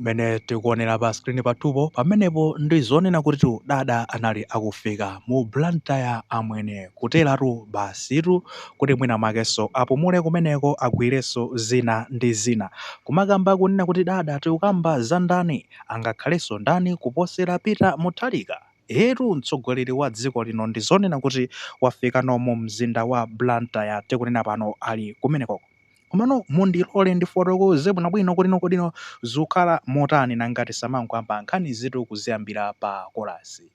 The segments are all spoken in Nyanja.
Mmene tikuonera pa screen pathupo, pamenepo ndi zonena kutitu dada anali akufika mu Blantyre amwene, kuteratu basitu kuti mwina makenso apumule kumeneko agwirenso zina ndi zina. Kumakamba kunena kuti dada tikukamba za ndani? Angakhalenso ndani kuposera Peter Mutharika? Eetu mtsogoleri wa dziko lino ndi zonena kuti wafikano mu mzinda wa Blantyre tikunena pano ali kumenekoko. Komano mundilole ndifotokoze bwinobwino kuti no kodi no zikukhala motani nanga tisamangoyamba nkhanizitu kuziyambira pa kolasi.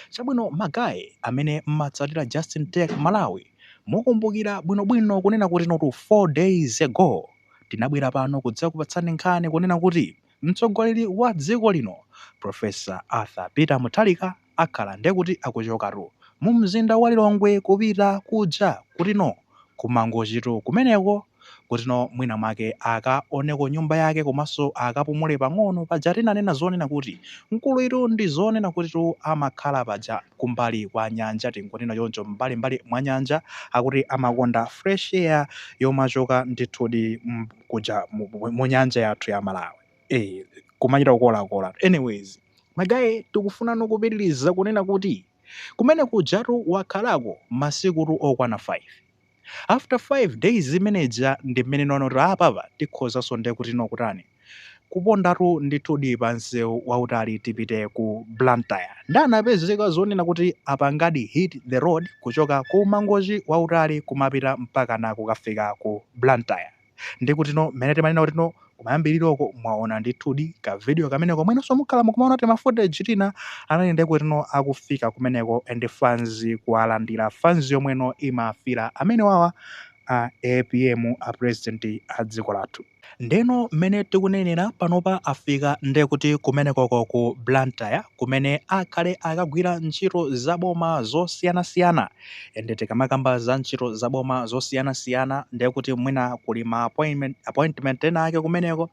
Chabwino magaye amene mmatsatira Justin Tech Malawi mukumbukira bwinobwino kunena kuti notu 4 days ago tinabwera pano kudzakupatsani nkhani kunena kuti Mtsogoleri wa dziko lino Professor Arthur Peter Mutharika akhala ndekuti akuchokatu mu mzinda wa Lilongwe kupita kuja kutino ku Mangochitu kumeneko kutino mwina mwake akaoneko nyumba yake komanso akapumule pang'ono paja tinanena zonena kuti mkuluyitu ndi zonena kutitu amakhala paja kumbali kwa nyanja tingonena choncho m'mbalimbali mwa nyanja akuti amakonda fresh air yomachoka ndithudi kuja mu nyanja yathu ya Malawi ee kumachita kukolakola anyways magaye tikufunano kupitiliza kunena kuti kumene kujatu wakhalako masikutu okwana 5 after 5 days zimene zija ndi mmene nonoti apapa tikhozanso nde kuti no kutani kupondatu ndithudi pa msewu wautali tipite ku Blantyre nde anapezeka zonena kuti apangadi hit the road kuchoka ku Mangochi wautali kumapita mpakana kukafika ku Blantyre nde kutino mmene timanena kutino kumayambiliroko mwaona ndithudi ka video kameneko mwinanso mukhala mukumaona tima footage tina anali nde kutino akufika kumeneko and fans kuwalandira fans yomweno imafira amenewawa a APM a president a dziko lathu. Ndeno mmene tikunenera panopa afika ndekuti kumenekoko ku Blantyre kumene akhale akagwira ntchito za boma zosiyanasiyana and tikamakamba za ntchito za boma zosiyanasiyana ndekuti mwina kuli ma appointment ena ake kumeneko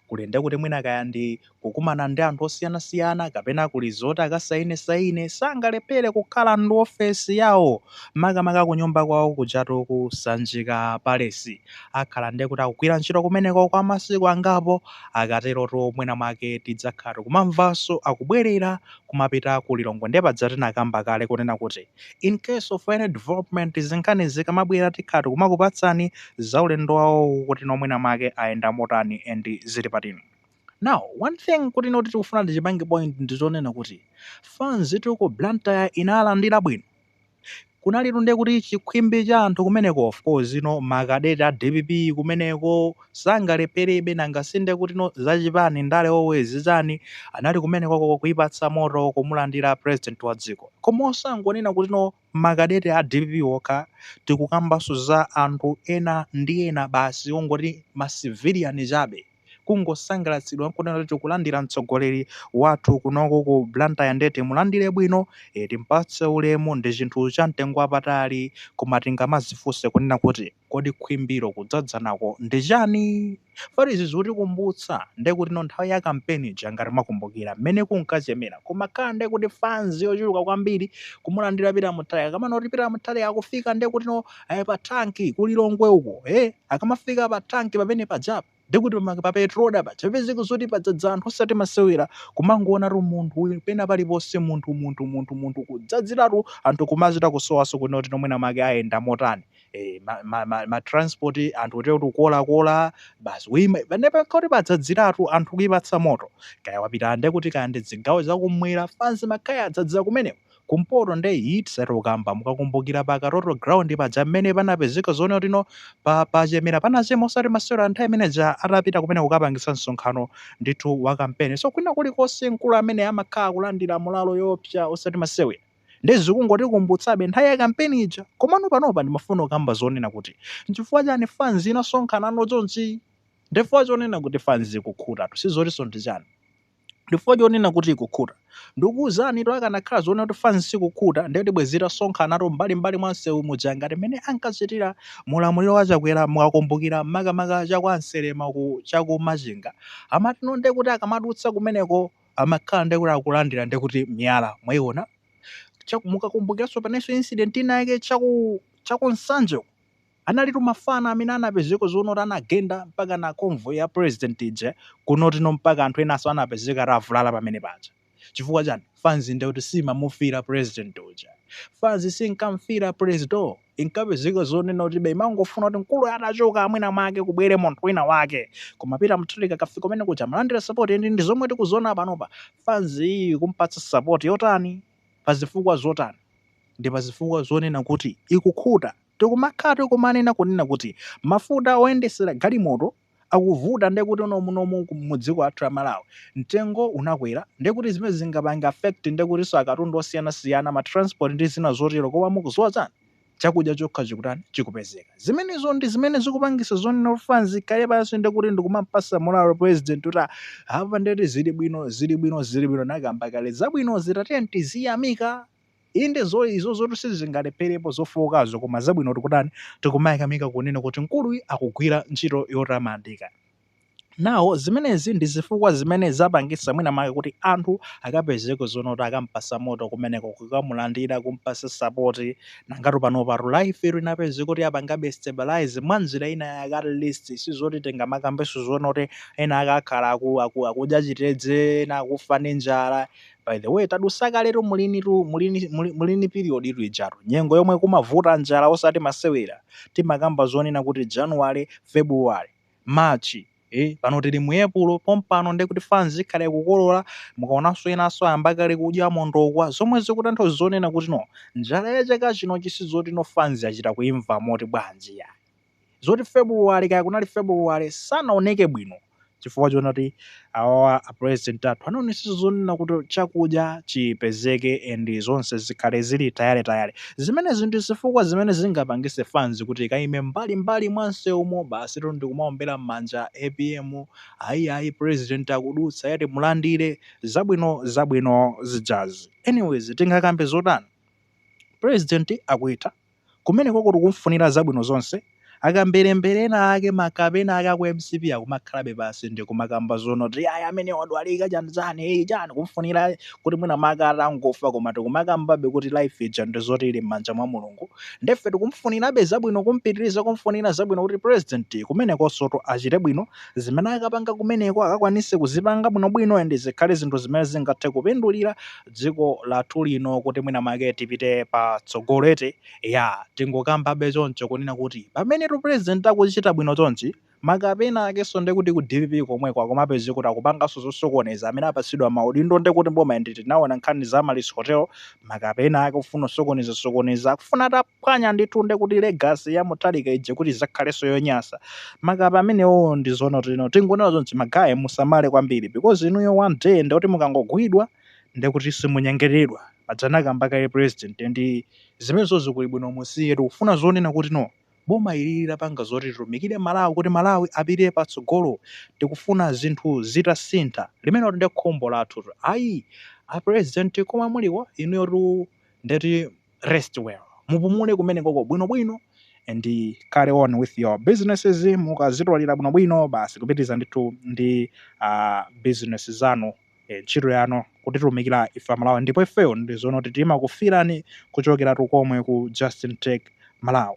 kuli ndekuti mwina kaya ndi kukumana ndi anthu osiyanasiyana kapena kuli zoti akasayinesaine sangalephere kukhala ndi ofesi yawo makamaka kunyumba kwawo kujatu ku Sanjika Palace. Akhala nde kuti akugwira ntchito kumeneko kwa masiku angapo. Akaterotu mwina mwake tidzakhala tikumamvanso akubwerera kumapita ku Lilongwe. Nde paja tinakamba kale kunena kuti in case of any development zinkhani zikamabwera tikhala tikumakupatsani za ulendo wawowu kuti no mwina mwake ayenda motani and zili pati. Now one thing kuti noti tikufuna tichipange point ndi chonena kuti fanstu ku Blantyre inalandira bwino. Kunalitu ndiye kuti chikhwimbi cha anthu kumeneko of course no ma cadet a dpp kumeneko sangalepherebe nanga si ndiye kuti no zachipani ndale always chani anali kumenekoko kuipatsa moto kumulandira president wa dziko. Koma osangonena kuti no ma cadet a dpp okha tikukambanso za anthu ena ndi ena basi ongoti ma civilian chabe. kungosangalatsidwa nkunena kuti tikulandira mtsogoleri wathu kunoko ku Blantyre nde timulandire bwino, eh timpatse ulemu ndi chinthu cha mtengo wapatali koma tingamadzifunse kunena kuti kodi khwimbilo kudzadzana ko ndi chani? Poti izi zikutikumbutsa nde kuti no nthawi ya kampeni ija ngati mwakumbukira mmene kunkachemera kumakhala nde kuti fanzi yochuluka kwambiri kumulandira Peter Mutharika kamanena kuti Peter Mutharika akufika nde kuti no ayi pa tank ku Lilongwe uko eh akamafika pa tank pamene pajapa ndikuti pa Petroda paja papezeka zoti padzadza anthu osati masewera kumangoonatu munthu uyu pena paliponse munthu munthu munthu munthu kudzadziratu anthu kumachita kusowaso kunena kuti no mwina mwake ayenda motani eh, ma, ma, ma, ma transport anthu kuti kuti ukolakola basi uima panepa kuti padzadziratu anthu kuipatsa moto kaya wapita nde kuti kaya ndi zigawo zakumwera fanzi imakhala yadzadzira kumeneko kumpoto nde ii tisati kukamba mukakumbukira pa Katoto ground paja mmene panapezeka zoona kuti no pachemera panachema osati masewera nthawi imene ija atapita kumeneko kukapangisa msonkhano ndithu wa kampeni so kwina kulikonse mkulu amene amakhala akulandira mulalo yoopsa osati masewera nde zikungotikumbutsabe nthawi ya kampeni ija komano panopa ndimafuna kukamba zonena kuti nchifukwa chani fans inasonkhanano chonchi ndifukwa chonena kuti fans ikukhutatu sizotiso ndi chani ndifukwa chonena kuti ikukhuta. Ndikukuuzanitu akanakhala zoona kuti fans sikukhuta ndiye kuti bwezi itasonkhanatu m'mbali m'mbali mwa msewu muja ngati mmene ankachitira mu ulamuliro wa Chakwera mukakumbukira makamaka cha kwa Nselema uku cha ku Machinga. Amati no ndiye kuti akamadutsa kumeneko amakhala ndiye kuti akulandira ndiye kuti miyala mwaiona. Cha- Mukakumbukiranso panenso incident ina yake cha ku cha ku Nsanje uku. Analitu mafana amene anapezeka zoona kuti anagenda mpaka na convoy ya president uja kunoti no mpaka anthu enaso anapezeka atavulala pamene paja chifukwa chani fanzi nde kuti simamufira president uja fanzi sinkamfira presdo inkapezeka zonena kuti be imangofuna kuti mkuluyo atachoka mwina mwake kubwere munthu wina wake koma Peter Mutharika akafika kumene kuja amalandira support and ndizomwe tikuziona panopa fanzi iyi ikumpatsa support yotani pazifukwa zotani ndipazifukwa zonena kuti ikukhuta tikumakhala tikumanena kunena kuti mafuta oyendesera galimoto akuvuta nde kuti muno mu dziko lathu la Malawi mtengo unakwera nde kuti zimenezi zingapange affect nde kutinso akatundu osiyanasiyana ma transport ndi zina zotero koma mukuziwa chani chakudya chokha chikutani chikupezeka zimenezo ndi zimene zikupangisa zonena kuti fanzi ikhale pansi nde kuti ndikumampasa moralo president kuti apa nde kuti zili bwino zili bwino zili bwino anakamba kale zabwinozi tatiyeni tiziyamika Inde izo zoti sizingalepherepo zofookazo koma zabwino tikutani tikumayamika kunena kuti mkuluyi akugwira ntchito yotamandika. Now zimenezi ndi zifukwa zimene zapangitsa mwina mwake kuti anthu akapezeke zonena kuti akampasa moto kumeneko kukamulandira kumpasa support nangatu panopatu life inapezeka kuti yapangabe stabilize mwanjira ina yake at least sizoti tingamakambenso zonena kuti ena ake akhala aku, aku, akudya chitedze ena akufa ndi njala By the way tadusa kaletu mulinitu mulini muli mulini period tu ijatu nyengo yomwe kumavuta njala osati masewera timakamba zonena kuti January, February, March ee pano tili mu Epulo pompano ndekuti fanzi ikhala ikukolora mukaonanso enanso ayamba kale kudya mondokwa zomwe zikutanthauza zonena kuti no njala ya chaka chino chi sizoti no fanzi yachita kuimva moti bwanji iyayi. zoti February kaya kunali February sanaoneke bwino chifukwa chonena kuti awawa a president athu anaonetsetsa zonena kuti chakudya chipezeke and zonse zikhale zili tayale tayale. Zimenezi ndi zifukwa zimene zingapangise fans kuti ikaime mbali mbali mwa nsewumo basitu ndikumaombera mmanja apm ayi ayi president akudutsa tiyeni timulandire zabwino zabwino zijazi. Anyways tingakambe zotani president akuitha. Kumenekoko tikumfunira zabwino zonse. Akamberembere ena ake makape ena ake aku mcp akumakhalabe pansi ndikumakamba zonena kuti ayi ameneyo wadwalika chani chani ee chani kumfunira kuti mwina make atangofa koma tikumakambabe kuti life ija ndizoti ili mmanja mwa Mulungu nde ife tikumfunirabe zabwino kumpitiriza kumfunira zabwino kuti president kumenekonsotu achite bwino zimene akapanga kumeneko akakwanise kuzipanga bwinobwino and zikhale zinthu zimene zingathe kupindulira dziko lathu lino kuti mwina make tipite patsogolo eti ya tingokambabe choncho kunena kuti pamene tu president akuchita bwino chonchi makape ena akenso nde kuti ku dpp komweko akumapezeka kuti akupanganso zosokoneza amene apatsidwa maudindo nde kuti mboma nde tinaona nkhani za Amaryllis hotel makape ena ake ofuna kusokoneza sokoneza akufuna ata phwanya ndithu nde kuti legacy ya mutharika ija kuti izakhalenso yonyasa makape amenewo nde zonena kuti no tingonena chonchi ma guy musamale kwambiri because inuyo one day ndekuti mukangogwidwa ndekuti simunyengeredwa paja anakamba kale president ndi zimenezo zikuli bwino musiye tikufuna zonena kuti no boma ilili lipange zoti litumikire malawi kuti malawi apite patsogolo tikufuna zinthu zitasintha limenelo nde khumbo lathu tu ayi a president komwe muliko inuyotu ndeti rest well mupumule kumenekoko bwinobwino and carry on with your businesses mukazitwalira bwinobwino basi kupitiriza ndithu ndi uh, business zanu eh, ntchito yanu kutitumikira ife amalawi ndipo ifeyo ndi zonoti timakufirani kuchokera konkuno ku justin tech malawi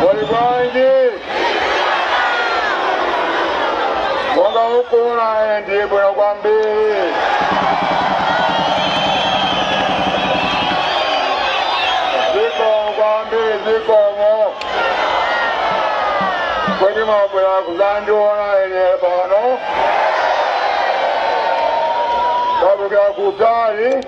Muli bwanji? Monga mukuona ndili bwino kwambiri. Zikomo kwambiri zikomo. Kodi mwabwera kudzandiona ine pano? Mwabwera kutali.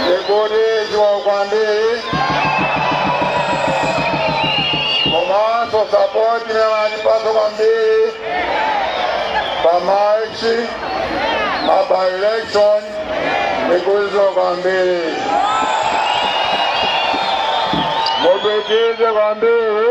ndikuthokoza kwambiri komanso sapoti imene anatipasa kwambiri pa march ma by election ndikuthokoza kwambiri mupitirize kwambiri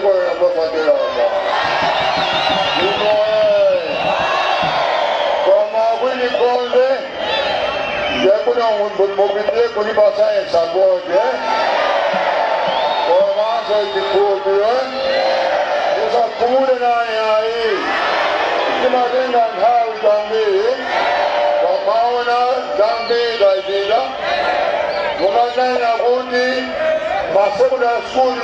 Poyamba pakelama. Umo eh. Koma kwini konde. Ndekuno mupitire kuli basayensi akonde. Komanso chikhulupiro. Musakhumule naye ayi. Timatenga nthawi kwambiri. Komaona zambiri zachita. Mukanena kuti masekondari skulu